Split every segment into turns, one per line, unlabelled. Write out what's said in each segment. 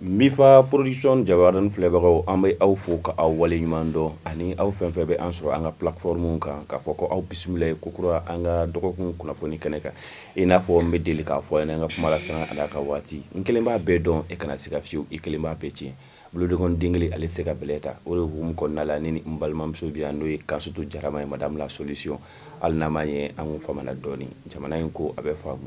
Mifa production jabaranin filɛbagaw an bɛ aw fo ka aw wale ɲuman dɔn ani aw fɛn fɛn bɛ an sɔrɔ an ka plateforme kan k'a fɔ ko aw bisimila kokura an ka dɔgɔkun kunnafoni kɛnɛ kan i n'a fɔ n bɛ deli k'a fɔ an ka kuma la san a ka waati n kelen b'a bɛɛ dɔn e kana se ka fiyewu i kelen b'a bɛɛ tiɲɛ boloden kelen a tɛ se ka bɛlɛ ta o de hukumu kɔnɔna la ni n balimamuso bɛ yan n'o ye Kansutu Jarama ye madame la solution hali n'an ye an tun famana dɔɔnin jamana in ko a bɛ faamu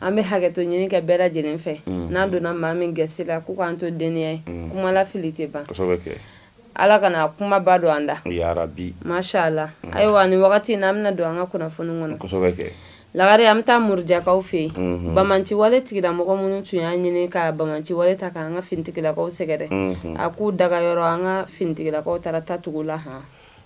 an bɛ hakɛto ɲini kɛ bɛɛ lajɛlen fɛ n'an donna maa min gasi la k'u k'an to deniya ye kumala fili tɛ
ban ala kana
kumaba don an da ya rabbi masha Allah ayiwa nin wagati na an bɛna don an ka kunnafoni
kɔnɔ lagare an bɛ
taa Murujakaw fɛ yen bamanciwale tigilamɔgɔ minnu tun y'a ɲini ka bamanciwale ta k'an ka finitigilakaw sɛgɛrɛ a k'u daga yɔrɔ an ka finitigilakaw taara ta tugu u la han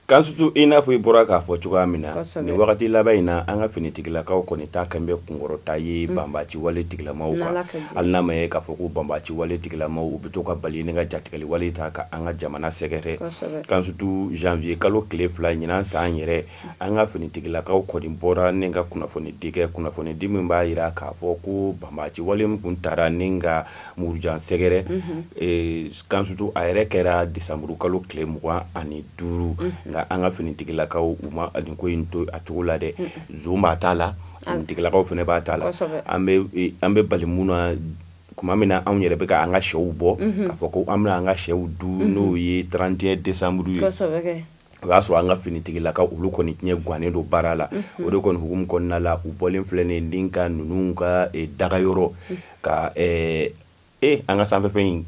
Kansutu i
n'a fɔ i bɔra k'a fɔ cogoya min na nin wagati laban in na an ka finitigilakaw kɔni ta kan bɛ kunkɔrɔta ye banbaci wale tigilamaw kan hali n'a ma k'a fɔ ko banbaci wale tigilamaw u bɛ to ka bali ni ka jatigɛli wale ta ka an ka jamana sɛgɛrɛ Kansutu zanwuye kalo tile fila ɲinan san yɛrɛ an ka finitigilakaw kɔni bɔra ni ka kunnafoni di kunnafoni di min b'a jira k'a fɔ ko banbaci wale min tun taara ni ka Muruja sɛgɛrɛ Kansutu a yɛrɛ kɛra desanburu kalo tile mugan ani duuru nka an ka finitigilakaw u ma nin ko in to a cogo la dɛ son b'a ta la finitigilakaw fana b'a ta la an bɛ bali mun na tuma min na anw yɛrɛ bɛ ka an ka shɛw bɔ k'a fɔ ko an bɛna an ka shɛw dun n'o ye trente et un décembre ye o y'a sɔrɔ an ka finitigilakaw olu kɔni tun ɲɛ gannen don baara la o de kɔni hukumu kɔnɔna la u bɔlen filɛ nin den ka ninnu ka daga yɔrɔ ka e an ka sanfɛfɛn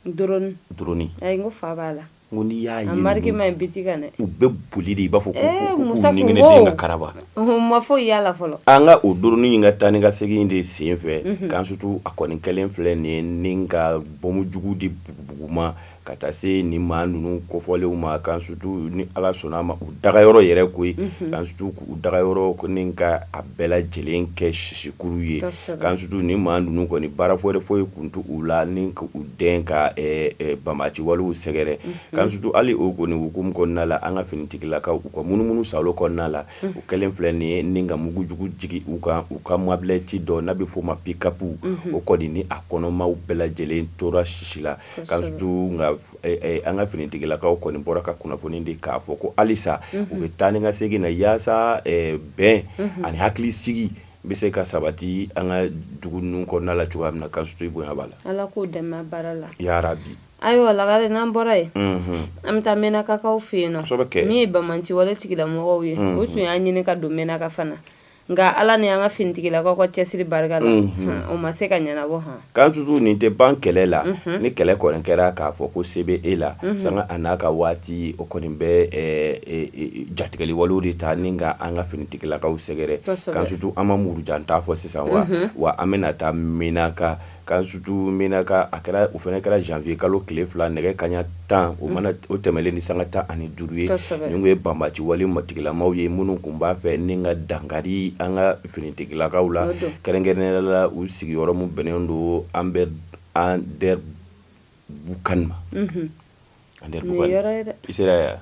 in fa
b'a la ko n'i y'a ye u bɛ boli de
i b'a fɔ ko kara ma fɔ
yalala fɔlɔ an ka o drone in ka
taa ni ka segin de sen fɛ Kansutu a kɔni kɛlen filɛ nin ka bɔmu jugu de bugubugu ma ka taa se ni maa ninnu kofɔlenw ma Kansutu ni ala sɔnna a ma u daga yɔrɔ yɛrɛ ko Kansutu u daga yɔrɔ ko ni ka a bɛɛ lajɛlen kɛ sisikuru ye Kansutu ni maa ninnu kɔni baara wɛrɛ foyi tun t'u la ni u den ka banbaci walew sɛgɛrɛ Kansutu hali o kɔni hukumu kɔnɔna la an ka finitigilakaw u ka munumunusaalo kɔnɔna la u kɛlen filɛ nin ye ni ka mugujugu jigin u kan u ka mɔbili ci dɔ n'a bɛ f'o ma pick-up o kɔni ni a kɔnɔmaa bɛɛ lajɛlen tora sisi la nka an ka finitigilakaw kɔni bɔra ka kunnafoni di k'a fɔ ko halisa u bɛ taa ni ka segin na yaasa bɛn ani hakili sigi bɛ se ka sabati an ka dugu ninnu kɔnɔna la cogoya min na Kansutu i bonya b'a la ala k'u dɛmɛ
baara la ya rabbi
ayiwa lagare
n'an bɔra yen an bɛ taa Menakakaw fɛ yen kɛ min ye bamanci wale tigilamɔgɔw ye u tun y'a ɲini ka don Menaka fana nka ala ni an ka finitigilakaw ka cɛsiri barika la o ma se ka ɲɛnabɔ han k'an sutu nin tɛ
ban kɛlɛ la ni kɛlɛ kɔni kɛra k'a fɔ ko se bɛ e la sanga a n'a ka waati o kɔni bɛ jatigɛli walew de ta ni ka an ka finitigilakaw sɛgɛrɛ k'an sutu an ma Murujan ta fɔ sisan wa wa an bɛna taa Menaka K'an sutu Menaka kɛra o fana kɛra janvier kalo tile fila nɛgɛ kaɲa tan o tɛmɛnlen ni sanga tan ani duuru ye nin tun ye banbaci wale matigilamaw ye minnu tun b'a fɛ ni ka dankari an ka finitigilakaw la kɛrɛnkɛrɛnnenya la u sigiyɔrɔ min bɛnnen don Anderbukan ma an sera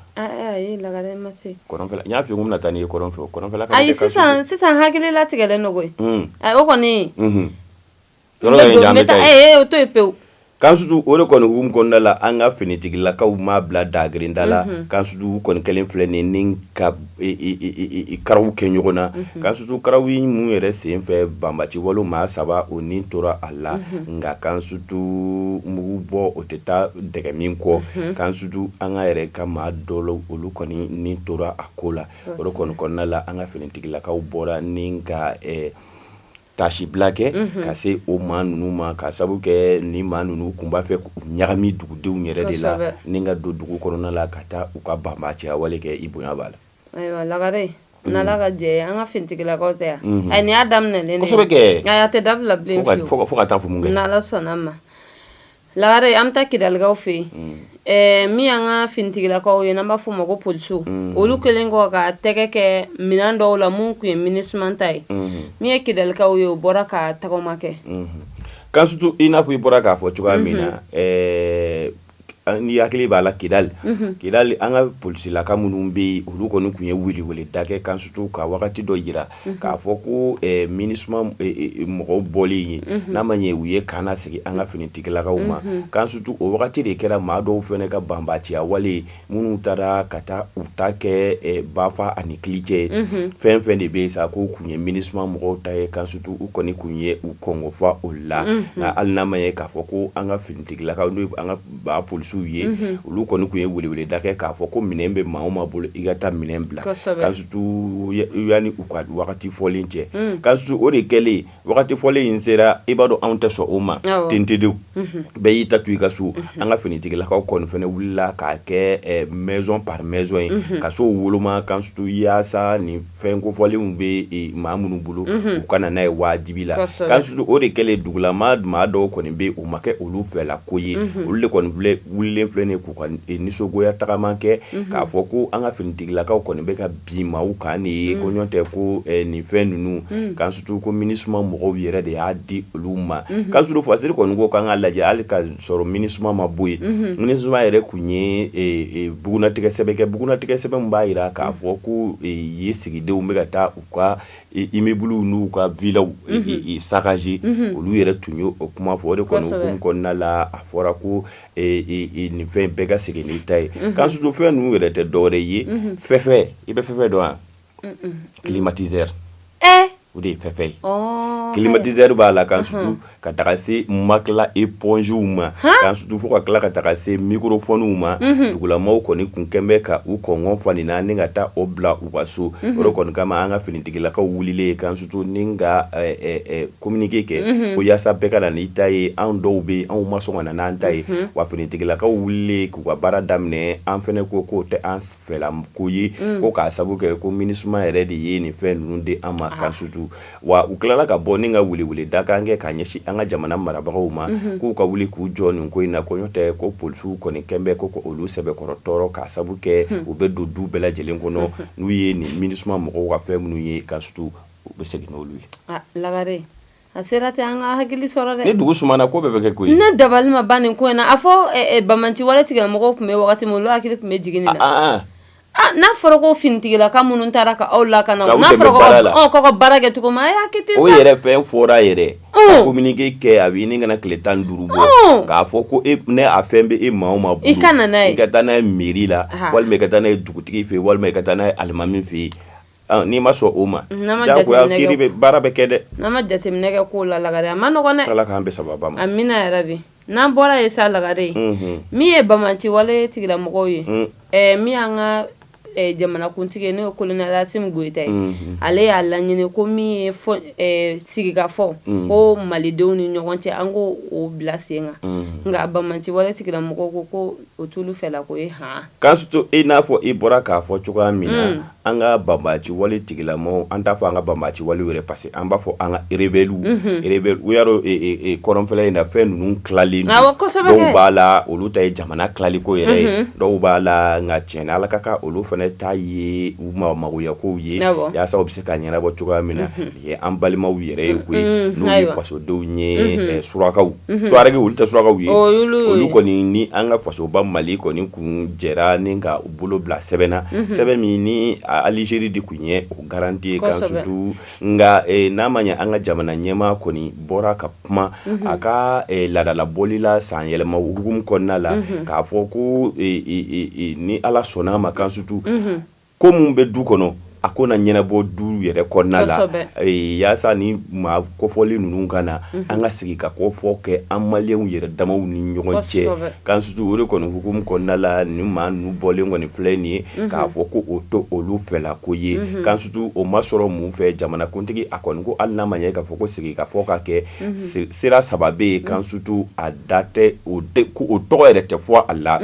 y'a fɔ n bɛna
taa n'i ye
kɔrɔn fɛ sisan hakili latigɛlen don koyi o kɔni Yɔrɔ dɔ in ja, an bɛ taa yen, ee o to yen pewu, k'an sutu o de
kɔni hukumu kɔnɔna la an ka finitigilakaw ma bila daa kelen da la, unhun, k'an sutu u kɔni kɛlen filɛ nin ye ni ka i-i-i karaw kɛ ɲɔgɔn na, unhun, k'an sutu karaw ye minnu yɛrɛ sen fɛ banbati wale maa saba o ni tora a la, unhun, nka k'an sutu mugu bɔ o tɛ taa dɛgɛ min kɔ, unhun, k'an sutu an ka yɛrɛ ka maa dɔ la olu kɔni ni tora a ko la, o de kɔni kɔnɔna la an ka finitigilakaw bɔra ni ka ɛɛ taasibila kɛ ka se o maa ninnu ma ka sabu kɛ ni maa ninnu tun b'a fɛ k'u ɲagami dugudenw yɛrɛ de la ni ka don dugu kɔnɔna la ka taa u ka banbaciya wale kɛ i bonya b'a la ayiwa
lagare n'Ala ka jɛ ye an ka finitigilakaw tɛ yan ayi nin y'a daminɛlen de ye kosɛbɛ kɛ ayi a tɛ
dabila bilen
fiyewu fo ka taa fɔ mun
kɛra n'Ala
sɔnn'a ma Lare an bɛ
taa
Kidalikaw fɛ yen min an ka finitigilakaw ye n'an b'a fɔ ma ko polisiw olu kɛlen kɔ ka tɛgɛ kɛ minɛn dɔw la minnu tun ye MINUSMA ta ye min ye kidalikaw ye o bɔra ka tagama kɛ k'an
sutu i n'a fɔ i bɔra k'a fɔ cogoya min na n hakili b'a la Kidali an ka polisilakaw minnu bɛ olu kɔni tun ye weleweleda kɛ k'an sutu ka wagati dɔ jira k'a fɔ ko MINUSMA mɔgɔw bɔlen ye n'a ma ɲɛ u ye kan lasegin an ka finitigilakaw ma k'an sutu o wagati de kɛra maa dɔw fana ka banbatiya wale minnu taara ka taa u ta kɛ bafa ani kilicɛ ye fɛn fɛn de bɛ yen sa ko tun ye MINUSMA mɔgɔw ta ye k'an sutu u kɔni tun ye u kɔngɔ fa o la nka hali n'a ma ye k'a fɔ ko an ka finitigilakaw an ba polisiw ye olu kɔni tun ye weleweleda kɛ k'a fɔ ko minɛn bɛ maa o maa bolo i ka taa minɛn bila k'an sutu yanni u ka wagati fɔlen cɛ k'an sutu o de kɛlen wagati fɔlen in sera i b'a dɔn anw tɛ sɔn o ma ten ten de bɛɛ y'i ta to i ka so an ka finitigilakaw kɔni fana wulila k'a kɛ maison par maison ye ka so woloma k'an sutu yaasa ni fɛn kofɔlenw bɛ maa minnu bolo u ka na n'a ye wajibi la kan surtout o de kɛlen dugulama maa dɔw kɔni bɛ o ma kɛ olu fɛla ko ye olu de kɔni wililen filɛ nin k'u ka nisɔngoya tagama kɛ k'a fɔ ko an ka finitigilakaw kɔni bɛ ka bin maa kan de ye ko ɲɔgɔn tɛ ko nin fɛn ninnu kan surtout ko MINUSMA mɔgɔw yɛrɛ de y'a di olu ma kan surtout fasiri kɔni ko k'an k'a lajɛ hali k'a sɔrɔ MINUSMA ma bɔ yen MINUSMA yɛrɛ tun ye bugunnatigɛ sɛbɛn kɛ bugunnatigɛ sɛbɛn b'a jira k'a fɔ ko yen sigidenw bɛ ka taa u ka immeublew n'u ka villaw saccager olu yɛrɛ tun ye o kuma fɔ o de kɔni hukumu kɔnɔna la a fɔra ko nin fɛn bɛɛ ka segin n'i ta ye kan surtout fɛn ninnu yɛrɛ tɛ dɔwɛrɛ ye fɛfɛ i bɛ fɛfɛ dɔn wa kilimatizɛri o de ye fɛfɛ ye kilimatizɛri b'a la kan surtout ka taga se matelas épongew ma kan surtout fo ka tila ka taga se microphonew ma dugulamaw kɔni kun kɛlen bɛ ka u kɔn fa nin na ni ka taa o bila u ka so o kɔni kama an ka finitigilakaw wulilen kan surtout ni ka kominike kɛ ko walasa bɛɛ ka na n'i ta ye anw dɔw bɛ anw ma sɔn ka na n'an ta ye wa finitigilakaw wulilen k'u ka baara daminɛ an fana ko k'o tɛ an ko ye ko k'a sabu kɛ ko MINUSMA yɛrɛ de ye nin fɛn ninnu di an ma kan surtout wa u tilala ka bɔ ni ka welewele da kan kɛ k'a ɲɛsin an ka jamana marabagaw ma k'u ka wuli k'u jɔ nin ko in na ko ɲɔgɔn tɛ ko polisiw kɔni kɛlen bɛ ko olu sɛbɛkɔrɔ tɔɔrɔ k'a sabu kɛ u bɛ don du bɛɛ lajɛlen kɔnɔ n'u ye nin MINUSMA mɔgɔw ka fɛn minnu ye kan surtout u bɛ segin n'olu ye Lagare
A sera ten an ka hakili sɔrɔ dɛ ni dugu sumana ko bɛɛ
bɛ kɛ koyi ne dabali ma ban nin
ko in na a fɔ banbaci wale tigilamɔgɔw tun bɛ waati min hakili tun bɛ jigin nin na n'a fɔra ko finitigilaka minnu taara ka aw lakana ka baara kɛ cogo yɛrɛ fɛn fɔra
yɛrɛ kominike kɛ a bɛ ɲini ka na tile tan duuru bɔ k'a fɔ ko e ni a fɛn bɛ maa o maa bolo i ka i ka taa
n'a ye
mairie la walima i ka taa n'a ye dugutigi fɛ yen walima i ka taa n'a ye alimami fɛ yen N'i ma sɔn o ma jagoya baara bɛ kɛ dɛ n'an ma jateminɛ
kɛ k'o la Lagare a ma nɔgɔ Ala k'an bɛn sababu ma
amiina yɛrɛ bi
n'an bɔra yen sa Lagare min ye banbaci wale tigilamɔgɔw ye ɛ min y'an ka jamanakuntigi n'o ye kolonɛli Asimi Goyita ye ale y'a laɲini ko min ye sigikafɔ ko malidenw ni ɲɔgɔn cɛ an k'o bila sen kan nka a banbaci wale tigilamɔgɔw ko ko O t'olu fɛla ko ye han, kan surtout i
n'a fɔ i bɔra k'a fɔ cogoya min na, un, an ka banbaci wale tigilamɔgɔw, an t'a fɔ an ka banbaci walew yɛrɛ parce que an b'a fɔ an ka rebelles unhun, rebelles u y'a dɔn ee kɔrɔnfɛla in na fɛn ninnu tilalen don, awɔ, kosɛbɛ kɛ, dɔw b'a la olu ta ye jamana tilali ko yɛrɛ ye, unhun, dɔw b'a la nka tiɲɛ na Ala ka kan olu fana ta ye u magoyakow ye, awɔ, yasa u bɛ se k'a ɲɛnabɔ cogoya min na, unhun. an balimaw yɛrɛ ye koyi n'u ye fasodenw ye surakaw tuareg olu tɛ surakaw ye olu kɔni ni an ka fasoba mali kɔni kun jɛra ni ka u bolo bila sɛbɛn na sɛbɛn min ni alizeri de kun ye o garantie kan sutu nka n'a ma ye an ka jamana ɲɛmaa kɔni bɔra ka kuma a ka laadalabɔli la san yɛlɛma hukumu kɔnɔna la k'a fɔ ko ni ala sɔnna a ma kan sutu ko mun bɛ du kɔnɔ a ko na ɲɛnabɔ du yɛrɛ kɔnɔna la yaasa ni maa kofɔli ninnu ka na an ka sigi ka ko fɔ kɛ an maliyɛnw yɛrɛ damaw ni ɲɔgɔn cɛ kan sutu o de kɔni hukumu kɔnɔna la ni maa ninnu bɔlen kɔni filɛ nin ye k'a fɔ ko o tɛ olu fɛla ko ye kan sutu o ma sɔrɔ mun fɛ jamanakuntigi a kɔni ko hali n'a ma ɲɛ k'a fɔ ko sigi ka fɔ ka kɛ sira saba bɛ yen kan sutu a da tɛ o ko o tɔgɔ yɛrɛ tɛ fɔ a la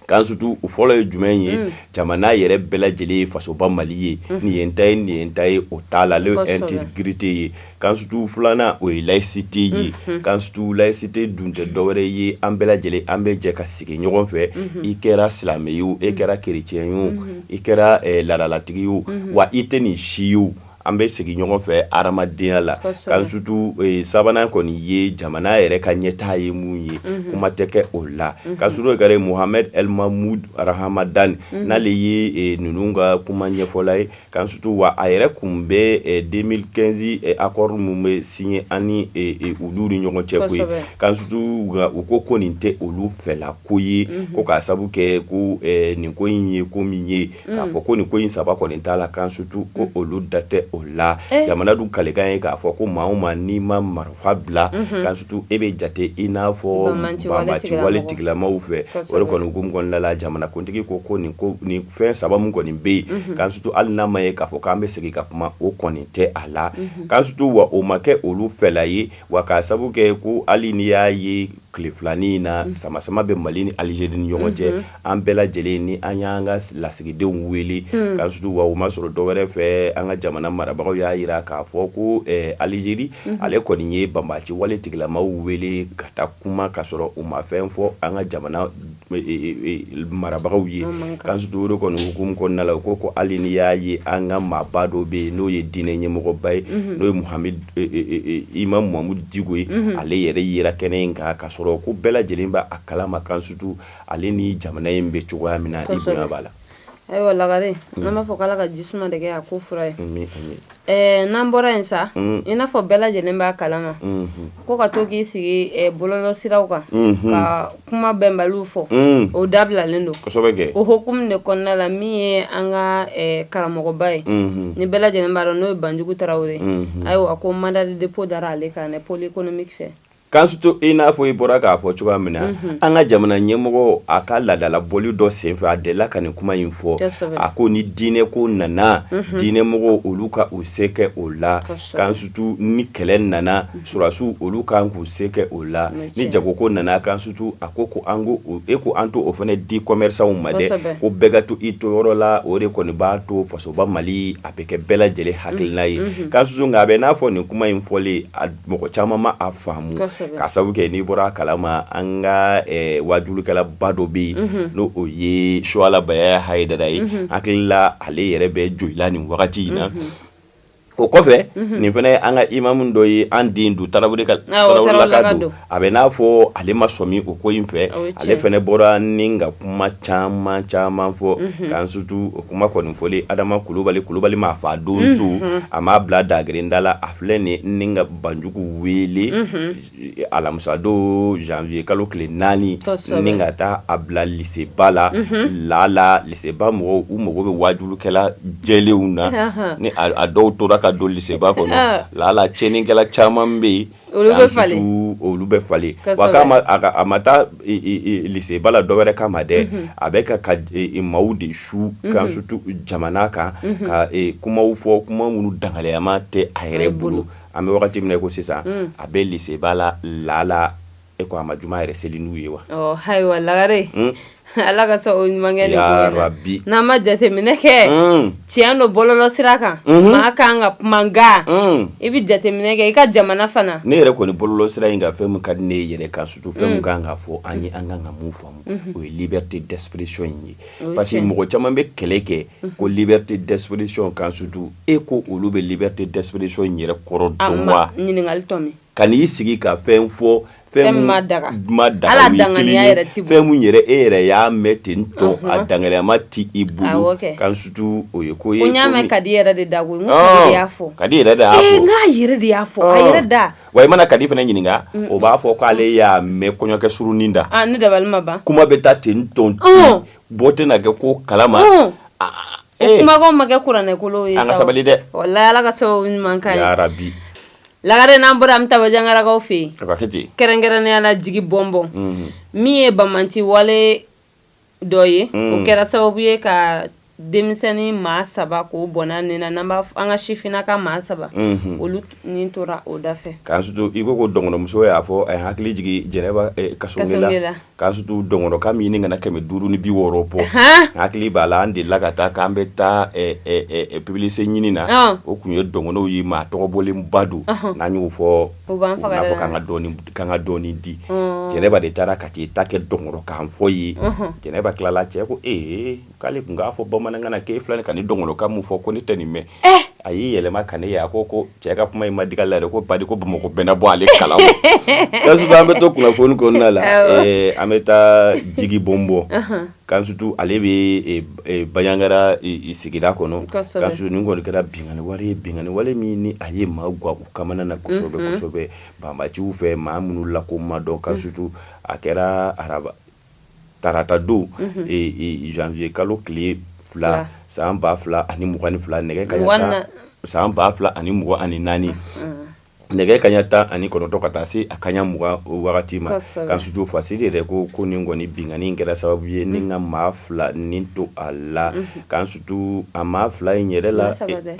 Kan sutu o fɔlɔ ye jumɛn ye jamana yɛrɛ bɛɛ lajɛlen ye fasoba mali ye nin ye ta ye nin ye ta ye o t'a la ale intégrité ye kan sutu filanan o ye layisite ye kan sutu layisite dun tɛ dɔwɛrɛ ye an bɛɛ lajɛlen an bɛ jɛ ka sigi ɲɔgɔn fɛ i kɛra silamɛ ye o i kɛra keretiyɛn ye o i kɛra laadalatigi ye o wa i tɛ nin si ye An bɛ sigi ɲɔgɔn fɛ hadamadenya la kan sutu sabanan kɔni ye jamana yɛrɛ ka ɲɛtaa ye mun ye kuma tɛ kɛ o la kan sutu Mohamed El Mahmoud Ramadan n'ale ye ninnu ka kuma ɲɛfɔla ye kan sutu wa a yɛrɛ kun bɛ deux mille quinze accord min bɛ signé ani olu ni ɲɔgɔn cɛ koyi kan sutu u ko ko nin tɛ olu fɛla ko ye ko k'a sabu kɛ ko nin ko in ye ko min ye k'a fɔ ko nin ko in saba kɔni t'a la kan sutu ko olu da tɛ o la jamana dun kalikan ye k'a fɔ ko maa o maa n'i ma marifa bila kan sutu i bɛ jate i n'a fɔ banbaci wale tigilamaw fɛ o de kɔni hukumu kɔnɔna la jamanakuntigi ko ko nin fɛn saba min kɔni bɛ yen kan sutu hali n'a ma ye k'a fɔ k'an bɛ segin ka kuma o kɔni tɛ a la kan sutu wa o ma kɛ olu fɛla ye wa k'a sabu kɛ ko hali n'i y'a ye tile filanin in na samasama bɛ Mali ni Algérie ni ɲɔgɔn cɛ an bɛɛ lajɛlen ni an y'an ka lasigidenw wele kan sutu wa o ma sɔrɔ dɔ wɛrɛ fɛ an ka jamana marabagaw y'a yira k'a fɔ ko Algérie ale kɔni ye banbaci wale tigilamaw wele ka taa kuma ka sɔrɔ u ma fɛn fɔ an ka jamana marabagaw ye kan sutu o de kɔni hukumu kɔnɔna la u ko ko hali n'i y'a ye an ka maaba dɔ bɛ yen n'o ye diinɛ ɲɛmɔgɔba ye n'o ye mu imam Mahamudu Diko ye ale yɛrɛ yera kɛnɛ in kan ka sɔrɔ ko bɛɛ lajɛlen b'a kalama kan sutu ale ni jamana in bɛ cogoya min na b'a la ayiwa
lagare mm. an b'a fɔ k'ala ka ji suma de kɛ a ko fura ye eh, n'an bɔra yen sa mm. i n'a fɔ bɛɛ lajɛlen b'a kalama mm-hmm. ko ka to k'i sigi eh, bɔlɔlɔ siraw kan mm-hmm. ka kuma bɛnbaliw fɔ mm. o dabilalen don o hukumu de kɔnɔna la min ye an ka eh, karamɔgɔba ye mm-hmm. ni bɛɛ lajɛlen b'a dɔn n'o ye banjugu tarawele ayiwa ko mandat de dépôt dara ale kan pôle économique fɛ Kan sutu i
n'a fɔ i bɔra k'a fɔ cogoya min na an ka jamana ɲɛmɔgɔ a ka laadala bɔli dɔ senfɛ a dela ka nin kuma in fɔ a ko ni diinɛ ko nana diinɛ mɔgɔw olu ka u se kɛ o la kan sutu ni kɛlɛ nana sɔrɔdasiw olu kan k'u se kɛ o la ni jago ko nana kan sutu a ko ko an ko e ko an to o fana di commerçants ma dɛ ko bɛɛ ka to i to yɔrɔ la o de kɔni b'a to fasoba mali a bɛ kɛ bɛɛ lajɛlen hakilina ye kan sutu nka a bɛ n'a fɔ nin kuma in fɔlen mɔgɔ caman ma a faamu k'a sabu kɛ n'i bɔra a kalama an ka wajulikɛla ba dɔ bɛ yen n'o ye suwala bayaya hayidara ye hakili la ale yɛrɛ bɛ jolila nin wagati in na o kɔfɛ nin fana an ka imamu dɔ ye an den don tarawele ka don a bɛ n'a fɔ ale ma sɔmi o ko in fɛ ale fana bɔra ni ka kuma caman caman fɔ kan sutu o kuma kɔni fɔlen adama kulubali kulubali maa faa donso a m'a bila dagrinda la Filɛ nin ye ni ka banjugu wele alamisa don janvier kalo tile naani ni ka taa a bila liseba la lala liseba mɔgɔw u mago bɛ wajulikɛla jɛlenw na ni a dɔw tora ka don liseba kɔnɔ lala tiɲɛnikɛla caman bɛ yen olu bɛ falen a ma taa liseba la dɔwɛrɛ kama dɛ a bɛ ka ka maaw de su kan sutu jamana kan ka kumaw fɔ kuma minnu dangaleyama tɛ a yɛrɛ bolo an bɛ wagati min ko sisan a bɛ liseba la lala e ko a ma juma yɛrɛ seli n'u ye wa ayiwa lagare
ala ka o ɲuman kɛ yarabi n'an ma jateminɛ kɛ tiɲɛ don bɔlɔlɔ sira kan maa ka kan ka kuma nka i bɛ jateminɛ kɛ i ka jamana fana ne yɛrɛ kɔni bɔlɔlɔ sira
in ka fɛn min ka di ne yɛrɛ kan sutu fɛn min ka kan ka fɔ an ye an ka kan ka mun faamu o ye liberté d'expression in ye parce que mɔgɔ caman bɛ kɛlɛ kɛ ko liberté d'expression kan sutu e ko olu bɛ liberté d'expression yɛrɛ kɔrɔ dɔn ka
n'i sigi ka
fɛn fɔ fɛn ma
da
fɛn yɛrɛ e yɛrɛ y'a mɛn ten tɔ a danganiyama tɛ i bolo kan sutu o ye ko ye ko n y'a mɛn kadi yɛrɛ de
da ko y'a fɔ kadi yɛrɛ de y'a fɔ
yɛrɛ de y'a fɔ
a yɛrɛ da Wa i mana kadi fana
ɲininka o b'a fɔ k'ale y'a mɛn kɔɲɔkɛ surunin da ne da ma ban
kuma bɛ taa ten
tɔ bɔ tɛna kɛ ko kalama
e ma kɛ kuranɛkolo ye sabali
dɛ ala ka
sababu ɲuman k'a ye yarabi
lagare
n'an bɔra an bɛ taa bajangarakaw fɛ yen kɛrɛnkɛrɛnnenya la jigibɔnbɔn min ye banbanci wale dɔ ye o kɛra sababu ye ka denmisɛnnin maa saba k'o bɔnɛ ni na n b'a an ka sifinna ka maa saba olu ni tora o da fɛ kansutu i ko ko
dɔgɔnɔmuso y'a fɔ a hakili jigin jɛnɛba kasonge la kansutu dɔgɔnɔkan min ɲini kana kɛmɛ duuru ni bi wɔɔrɔ bɔ hakili b'a la an delila ka taa k'an bɛ taa publicité ɲini na o tun ye dɔgɔnɔw ye maa tɔgɔbɔlenba don n'a y'o fɔ fɔ k'an ka dɔɔni k'an ka dɔɔni di mm. jɛnɛba de taara ka t'i ta kɛ dɔgɔnɔkan fɔ ye mm-hmm. jɛnɛba tilala cɛ ko ee k'ale tun k'a fɔ bamanankan na k'e filɛ ka nin dɔgɔnɔkan mun fɔ ko ne tɛ nin mɛn eh! a y'i yɛlɛma ka ne ye a ko ko cɛ ka kuma in ma dig'a la dɛ ko badi ko bamakɔ bɛnna bɔ ale kala o kansutu an bɛ to kunnafoni kɔnɔna la eh, an bɛ taa jigibɔnbɔ mm-hmm. kansutu ale bɛ eh, eh, banjagara sigida kɔnɔ kansutu nin kɔni kɛra binkanni wale ye binkanni wale min ni a ye maa gwan u kamana na kosɛbɛ mm-hmm. kosɛbɛ banbaciw fɛ maa minnu la ko ma dɔn kansutu a kɛra araba tarata don zanwiye kalo tile fila san ba fila ani mugan ni fila nɛgɛ kaɲa san ba fila ani mugan ani naani nɛgɛ kaɲa tan ani kɔnɔntɔn ka taa se a kaɲa mugan wagati ma kansutu fasiri yɛrɛ ko ko nin kɔni binkanni kɛra sababu ye ni ka maa fila ni to a la kansutu a maa fila in yɛrɛ la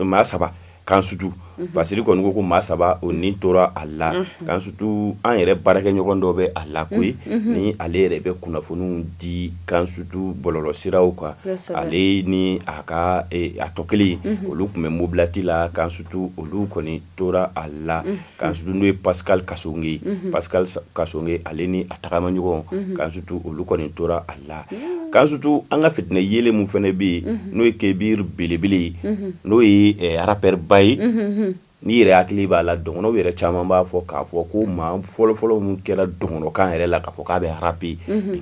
maa saba kansutu fasiri kɔni ko ko maa saba o ni tora a la kansutu an yɛrɛ baarakɛ ɲɔgɔn dɔ bɛ a la koyi ni ale yɛrɛ bɛ kunnafoniw di kansutu bɔlɔlɔsiraw kan ale ni a ka a tɔ kelen olu tun bɛ mobilati la kansutu olu kɔni tora a la Kansutu n'o ye pa kassonge pa kassonge ale ni a tagamaɲɔgɔn kansutu olu kɔni tora a la kansutu an ka fitinɛ yeelen min fana bɛ yen n'o ye kebir belebele ye n'o ye rappeur ba ye n'i yɛrɛ hakili b'a la dɔgɔnɔw yɛrɛ caman b'a fɔ k'a fɔ ko maa fɔlɔfɔlɔ min kɛra dɔgɔnɔkan yɛrɛ la k'a fɔ k'a bɛ rapi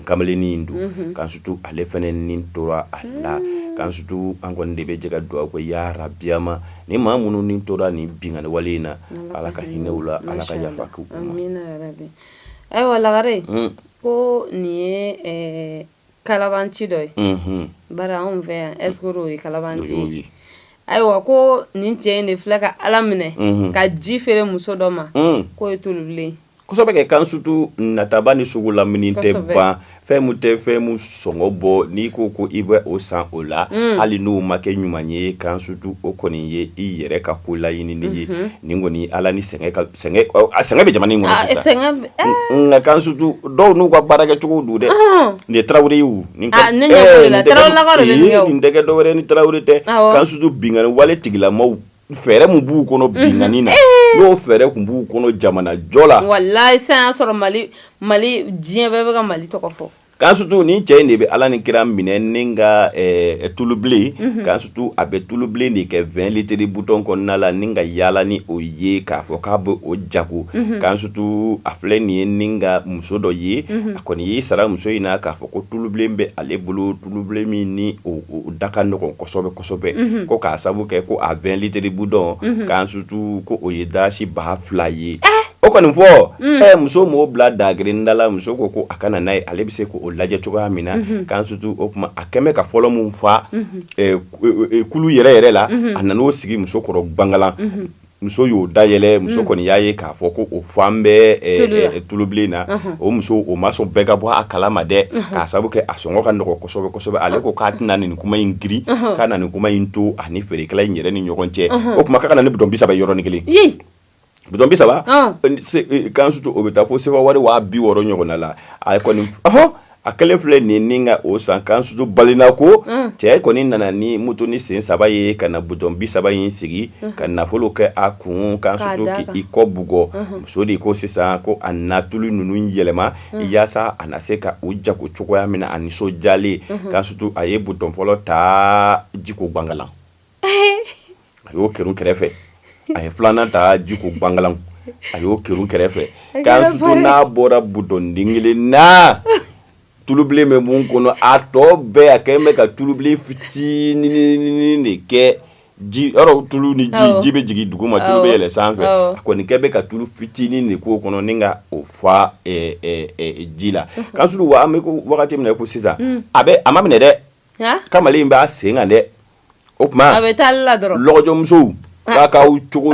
kamalennin in don kansutu ale fana ni tora a la kansutu an kɔni de bɛ jɛ ka dugawu kɛ yarabi ma ni maa minnu ni tora nin binkanni wale in na ala ka hinɛ u la ala ka yafa k'u ma
ayiwa lagare ko nin ye kalabanci dɔ ye bari anw fɛ yan est-ce que o ye kalabanci ayiwa ko nin cɛ in de filɛ ka ala minɛ ka ji feere muso dɔ ma k'o ye tulubilen kosɛbɛ kɛ
kansutu nataba ni sugu lamini tɛ ban fɛn min tɛ fɛn min sɔngɔ bɔ n'i ko ko i bɛ o san o la hali n'o ma kɛ ɲuman ye kansutu o kɔni ye i yɛrɛ ka ko laɲinini ye nin kɔni ala ni sɛgɛn sɛgɛn bɛ jamana in kɔnɔ sisan nka kansutu dɔw n'u ka baara kɛcogo don dɛ nin ye tarawele ye nin tɛ dɔwɛrɛ ni tarawele tɛ kansutu binkanni wale tigilama Fɛɛrɛ min b'u kɔnɔ binkanni na n'o fɛɛrɛ tun b'u kɔnɔ jamanajɔ la walayi sisan y'a
sɔrɔ mali mali diɲɛ bɛɛ bɛ ka mali tɔgɔ fɔ kansutu nin cɛ in
de bɛ ala ni kira minɛ ni ka tulubilen kansutu a bɛ tulubilen de kɛ vɛn litiri butɔn kɔnɔna la ni ka yaala ni o ye k'a fɔ k'a bɛ o jago kansutu a filɛ nin ye ni ka muso dɔ ye a kɔni y'i sara muso in na k'a fɔ ko tulubilen bɛ ale bolo tulubilen min ni da ka nɔgɔn kosɛbɛ kosɛbɛ ko k'a sabu kɛ ko a vɛn litiri butɔn kansutu ko o ye dasi ba fila ye o kɔni fɔ muso m'o bila dagirinda la muso ko ko a ka na n'a ye ale bɛ se k'o lajɛ cogoya min na kansutu o tuma a kɛlen bɛ ka fɔlɔ min fa tulu yɛrɛ yɛrɛ la a nan'o sigi muso kɔrɔ bangalan muso y'o dayɛlɛ muso mm. kɔni y'a ye k'a fɔ ko o falen bɛ eh, eh, tulubilen na uh-huh. o muso o ma sɔn bɛɛ ka bɔ a kalama dɛ uh-huh. k'a sabu kɛ a sɔngɔ ka nɔgɔ kosɛbɛ kosɛbɛ ale ko k'a tɛna nin kuma in girin uh-huh. k'a na nin kuma in to a ni feerekɛla in yɛrɛ ni ɲɔgɔn cɛ o tuma k'a ka na ni bitɔn bi saba yɔrɔnin kelen bitɔn bi saba eh, kansutu o bɛ taa fo sefawari waa bi wɔɔrɔ ɲɔgɔnna la a kɔni A kɛlen filɛ nin ni ka o san kansutu balina ko cɛ kɔni nana ni motonin sen saba ye ka na butɔn bi saba in sigi ka nafolo kɛ a kun kansutu k'i kɔ bugɔ muso de ko sisan ko a na tulu ninnu yɛlɛma yaasa a na se ka u jago cogoya min na a nisɔndiyalen kansutu a ye butɔn fɔlɔ ta ji ko bangalan a y'o kɛrun kɛrɛfɛ a ye filanan ta ji ko bangalan a y'o kɛrun kɛrɛfɛ kansutu n'a bɔra butɔn den kelen na tulubilen bɛ min kɔnɔ a tɔ bɛɛ a kɛlen bɛ ka tulubilen fitinin de kɛ ji tulu ni ji ji bɛ jigin dugu ma tulu bɛ yɛlɛ sanfɛ a kɔni kɛlen bɛ ka tulu fitinin de k'o kɔnɔ ni ka o fa ji la kansutu wa an bɛ ko wagati min na ko sisan a bɛ a ma minɛ dɛ Kamalen b'a sen kan dɛ o tuma a bɛ taa
la dɔrɔn
lɔgɔjɔmusow k'a k'aw cogo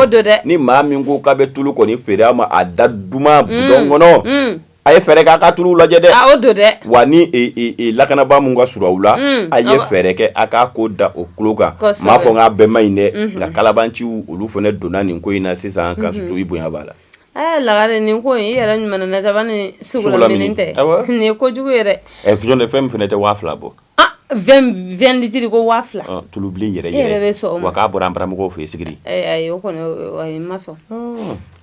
dɔn dɛ ni maa min ko k'a bɛ tulu kɔni feere a ma a da duman butɔn kɔnɔ a ye fɛɛrɛ kɛ a ka tulu lajɛ dɛ o don dɛ wa ni lakanabaa min ka surun aw la a ye fɛɛrɛ kɛ a k'a ko da o tulo kan n m'a fɔ k'a bɛɛ man ɲi dɛ nka kalabaanciw olu fana donna nin ko in na sisan kansutu i bonya b'a la Ɛ lagare
nin ko i yɛrɛ ɲuman nataba ni sugula tɛ nin ye kojugu yɛrɛ ɛ fi de fɛn fana tɛ
waa fila bɔ
vɛn litiri ko waa fila tulu yɛrɛ yɛrɛ
bɛ sɔn ma k'a bɔra an baramɔgɔw fɛ sigiri ayi o
kɔni ma sɔn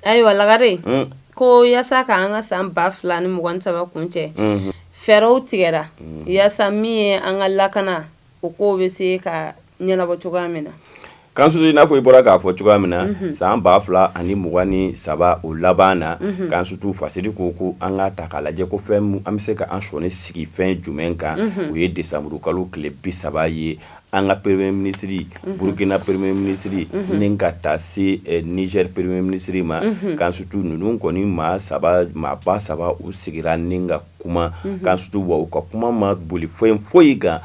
ayiwa lagare ko yaasa k'an ka san ba fila ni mugan ni saba kuncɛ fɛɛrɛw tigɛra yaasa min ye an ka lakana o ko bɛ se ka ɲɛnabɔ cogoya min na Kansutu i
n'a fɔ i bɔra k'a fɔ cogoya min na san ba fila ani mugan ni saba o laban na Kansutu fasiri ko ko an ka ta k'a lajɛ ko fɛn an bɛ se ka an sɔɔni sigi fɛn jumɛn kan o ye desanburu kalo tile bi saba ye an ka premier ministre Burukina premier ministre ni ka taa se Niger premier ministre ma Kansutu ninnu kɔni maa saba maa ba saba u sigira ni ka kuma Kansutu u ka kuma ma boli foyi foyi kan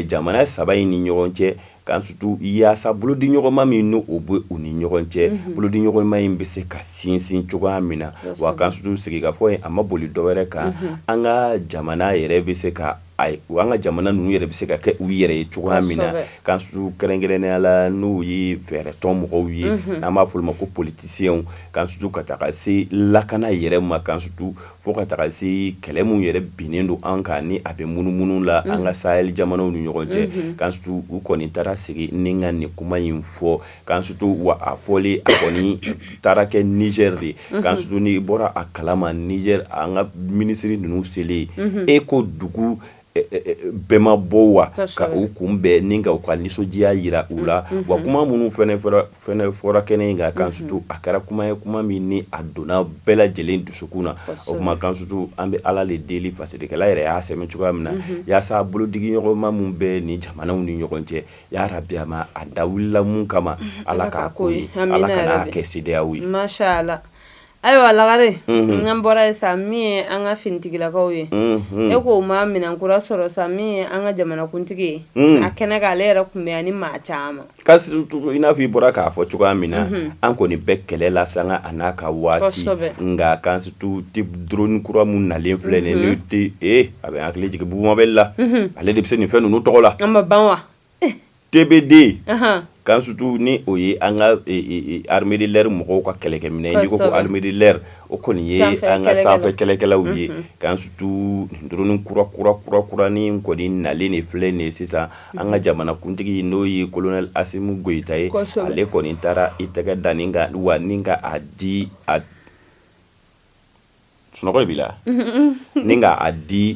jamana saba in ni ɲɔgɔn cɛ Kansutu yaasa bolo di ɲɔgɔnma min n' o bɛ u ni ɲɔgɔn cɛ bolo di ɲɔgɔnma in bɛ se ka sinsin cogoya min na wa Kansutu sigikafɔ in a ma boli dɔwɛrɛ kan an ka jamana yɛrɛ bɛ se ka an ka jamana ninnu yɛrɛ bɛ se ka kɛ u yɛrɛ ye cogoya min na Kansutu kɛrɛnkɛrɛnnenya la n'u ye fɛɛrɛtɔn mɔgɔw ye an b'a fɔ u ma ko politisiyɛnw Kansutu ka taga se lakana yɛrɛ ma Kansutu Fo ka taga se kɛlɛ mun yɛrɛ binnen don an kan ni a bɛ munumunu la an ka sahel jamanaw ni ɲɔgɔn cɛ Kansutu u kɔni taara sigi ni ka nin kuma in fɔ Kansutu wa a fɔli a kɔni taara kɛ Niger de Kansutu n'i bɔra a kalama Niger an ka minisiri ninnu selen e ko dugu bɛɛ ma bɔ wa ka u kun bɛn ni ka u ka nisɔndiya yira u la wa kuma minnu fɛnɛ fɔra kɛnɛ in kan Kansutu a kɛra kuma ye kuma min ni a donna bɛɛ lajɛlen dusukun na o kuma Kansutu an bɛ Ala le deli fasidikɛla yɛrɛ y'a sɛmɛ cogoya min na yaasa bolodigiɲɔgɔnma min bɛ nin jamanaw ni ɲɔgɔn cɛ ya Rabi jama a da wulila mun kama Ala k'a ko ye Ala kana a kɛ CEDEAO ye
Ayiwa lagare n'an bɔra ye sa min ye an ka finitigilakaw ye e k'o ma minɛn kura sɔrɔ sa min ye an ka jamanakuntigi ye a kɛnɛ kan ale yɛrɛ kun bɛ ani maa caman i n'a fɔ
i bɔra k'a fɔ cogoya min na an kɔni bɛ kɛlɛ la sanga a n'a ka waati nka Kansutu drone kura minnu nalen filɛ nin a bɛ hakili jigin Bubu Mabɛli la ale de bɛ se nin fɛn ninnu tɔgɔ la an ma ban wa TB deux Kansutu ni o ye an ka armée de l'air mɔgɔw ka kɛlɛkɛminɛ ko armée de l'air o kɔni ye an ka sanfɛ kɛlɛkɛlaw ye Kansutu nin drone kura kura kura kura ni kɔni nalen de filɛ nin ye sisan an ka jamanakuntigi n'o ye colonel Asimi Goyita ye ale kɔni taara i tɛgɛ da nin kan wa ni ka a di a sunɔgɔ b'i la ni ka a di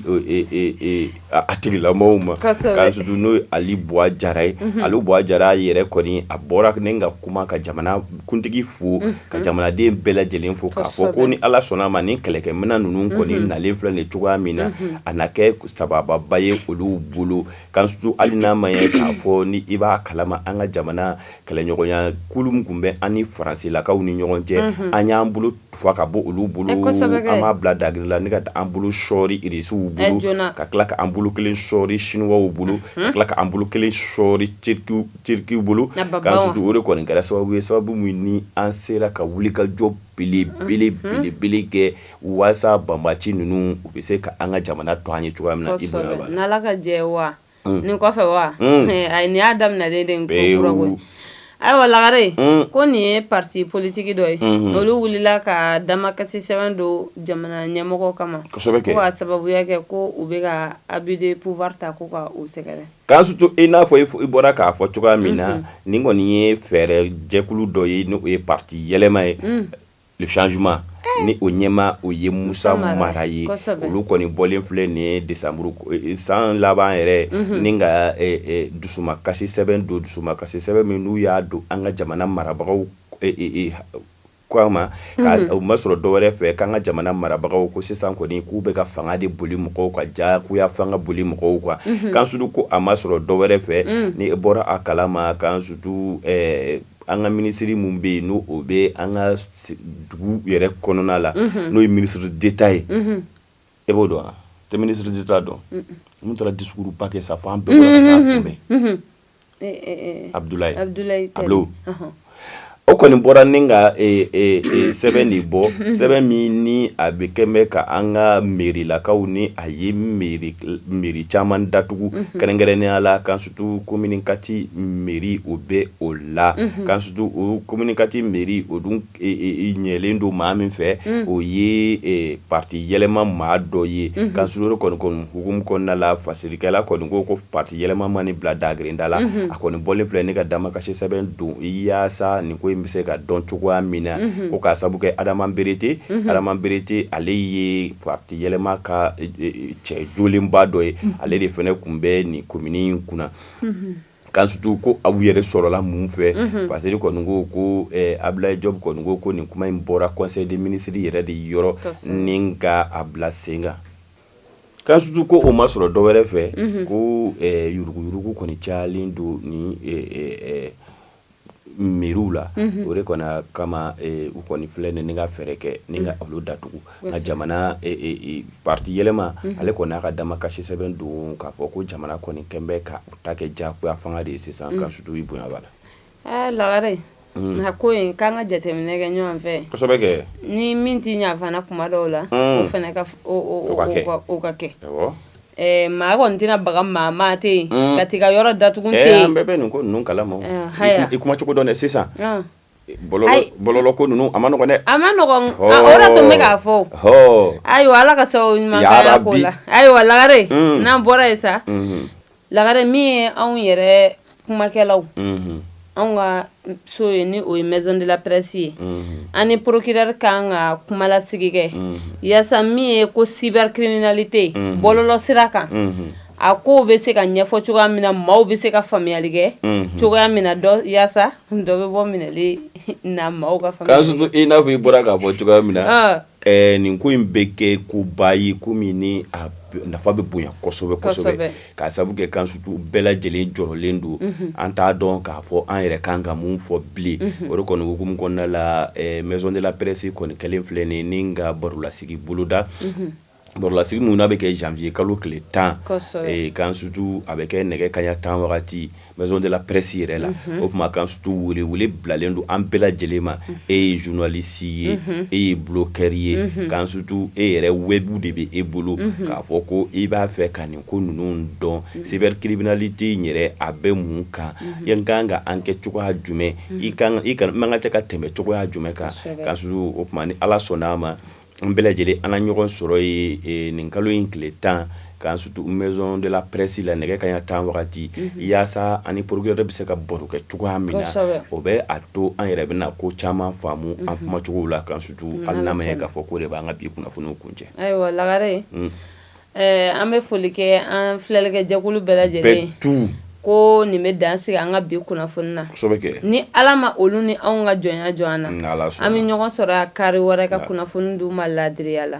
a tigilamɔgɔw ma Kansutu n'o ye Ali Buwa Jara ye Ali Buwa Jara yɛrɛ kɔni a bɔra ni ka kuma ka jamanakuntigi fo ka jamanaden bɛɛ lajɛlen fo k'a fɔ ko ni Ala sɔnn'a ma ni kɛlɛkɛminɛn ninnu kɔni nalen filɛ nin cogoya min na a na kɛ sabababa ye olu bolo Kansutu hali n'a ma ye k'a fɔ ni i b'a kalama an ka jamana kɛlɛɲɔgɔnya kulu min tun bɛ an ni faransilakaw ni ɲɔgɔn cɛ an y'an bolo tufa ka bɔ olu bolo an b'a bila dagri la ni ka taa an bolo sɔɔri irisiw bolo ka tila ka an bolo kelen sɔɔri siniwaw bolo ka tila ka an bolo kelen sɔɔri turikiw bolo kansutu o kɔni kɛra sababu ye sababu min ni an sera ka wulikajɔ belebelebele kɛ walasa banbaci ninnu u bɛ se ka an ka jamana to an ye cogoya min na i ka jɛ wa
mm. nin kɔfɛ wa mm. eh, ayi nin y'a daminɛlen de ye kura koyi ayiwa lagare mm. ko nin ye parti politiki dɔ ye mm-hmm. olu wulila ka damakasi sɛbɛn don jamana ɲɛmɔgɔ kama ko ka sababuya kɛ ko u bɛ ka abus de pouvoir ta ko ka u sɛgɛrɛ kansutu i n'a
fɔ i bɔra k'a fɔ cogoya min na mm-hmm. nin kɔni ye fɛɛrɛ jɛkulu dɔ ye n'o ye parti yɛlɛma ye mm. le changement ni o ɲɛmaa o ye musa mara ye olu kɔni bɔlen filɛ nin ye de san laban yɛrɛ ni ka dusu kasi sɛbɛn don dusu kasi sɛbɛn min n'u y'a don an ka jamana marabagaw kama o ma sɔrɔ dɔwɛrɛ fɛ k'an ka jamana marabagaw ko sisan kɔni k'u bɛ ka fanga de boli mɔgɔw kan jagoya fanga boli mɔgɔw kan kansutu ko a ma sɔrɔ dɔwɛrɛ fɛ ni i bɔra a kalama kan an ka minisiri min bɛ yen n'o o bɛ an ka dugu yɛrɛ kɔnɔna la n'o ye ministre d'État ye e b'o dɔn tɛ ministre d'État dɔn min taara discours ba kɛ sa fo an bɛɛ bɔra ka taa kunbɛn abudulayi jɔbu o kɔni bɔra ni ka sɛbɛn de bɔ sɛbɛn min ni a bɛ kɛ bɛ ka an ka mairilakaw ni a ye mairie caman datugu kɛrɛnkɛrɛnnenya la kan sutu commune quatre mairie o bɛ o la kansutu commune quatre mairie o dun ɲɛlen don maa min fɛ o ye pati yɛlɛma maa dɔ ye kansutu kɔni hukumu kɔnɔna la fasirikɛla kɔni ko ko pati yɛlɛma ma nin bila da grinda la a kɔni bɔlen filɛ ni ka damakasi sɛbɛn don i yaasa nin ko in bɛ se ka dɔn cogoya min na ko ka sababu kɛ adama berete adama berete ale ye pati yɛlɛma ka cɛ jolenba dɔ ye ale de fana tun bɛ nin commune in kunna kansutu ko a bɔ yɛrɛ sɔrɔla mun fɛ parce kɔni ko ko abudulayi jɔbu kɔni ko ko nin kuma in bɔra conseil des ministres yɛrɛ de yɔrɔ ni ka a bila sen kan kansutu ko o ma sɔrɔ dɔwɛrɛ fɛ ko yuruguyurugu kɔni calen don nin mairiew la o de kɔni kama u kɔni filɛ ni ka fɛɛrɛ kɛ ni ka olu datugu nka jamana pati yɛlɛma ale kɔni n'a ka damakasi sɛbɛn don k'a fɔ ko jamana kɔni kɛlen bɛ ka u ta kɛ jagoya fanga de ye sisan kansutu i bonya b'a la ɛɛ lagare
a ko k'an ka jateminɛ kɛ ɲɔgɔn fɛ ni
min tɛ
ɲa fana kuma dɔw la fana ka kɛ ka kɛ Maa kɔni tɛna baga maa ma ten ka t'i ka yɔrɔ datugu ten an bɛɛ bɛ nin ko ninnu kala ma
i kuma cogo dɔn sisan bɔlɔlɔ ko ninnu a man nɔgɔ dɛ a man nɔgɔ o de tun bɛ
k'a fɔ ayiwa ala ka sababu ɲuman k'an ko la ayiwa lagare n'an bɔra yen sa lagare min ye anw yɛrɛ kumakɛlaw anw ka so ye ni o ye maison de la presse ye an ni procureur ka kan ka kumalasigi kɛ yaasa min ye ko cybercriminalité bɔlɔlɔ sira kan a ko bɛ se ka ɲɛfɔ cogoya min na maaw bɛ se ka faamuyali kɛ cogoya min yaasa dɔ bɛ bɔ minɛli na maaw ka i n'a fɔ i bɔra k'a
fɔ cogoya min na Ɛɛ nin ko in bɛ kɛ koba ye ko min ni a nafa bɛ bonya kosɛbɛ kosɛbɛ k'a sabu kɛ kan surtout bɛɛ lajɛlen jɔrɔlen don an t'a dɔn k'a fɔ an yɛrɛ kan ka mun fɔ bilen o de kɔni hukumu kɔnɔna la ɛɛ maison de la presse kɔni kɛlen filɛ nin ye ni ka barolasigi boloda. Barolasigi min n'a bɛ kɛ janvier kalo tile 10 kosɛbɛ k'an surtout a bɛ kɛ nɛgɛ kanɲɛ 10 wagati maison de la presse yɛrɛ la o tuma k'an surtout wele wele bilalen don an bɛɛ lajɛlen ma e ye journaliste ye e ye blogueur ye k'an surtout e yɛrɛ web de bɛ e bolo k'a fɔ ko i b'a fɛ ka nin ko ninnu dɔn cybercriminalité in yɛrɛ a bɛ mun kan n ka kan ka enquête cogoya jumɛn i ka kan i ka n man kan ka tɛmɛ cogoya jumɛn kan k'an surtout o tuma ni Ala sɔnn'a ma An bɛɛ lajɛlen an na ɲɔgɔn sɔrɔ yen nin kalo in tile tan k'an surtout maison de la presse la nɛgɛ kanɲɛ tan wagati yaasa an ni procureur bɛ se ka baro kɛ cogoya min na o bɛ a to an yɛrɛ bɛna ko caman faamu an kumacogo la k'an surtout an lamɛn k'a fɔ k'o de b'an ka bi kunnafoniw kuncɛ ayiwa lagare
Ɛɛ an bɛ foli kɛ an filɛlikɛjɛkulu bɛɛ lajɛlen ye ko nin bɛ dan sigi an ka bi kunnafoni na ni ala ma olu ni anw ka jɔnya jɔ an na an bɛ ɲɔgɔn sɔrɔ kari wɛrɛ ka kunnafoni d'u ma laadiriya la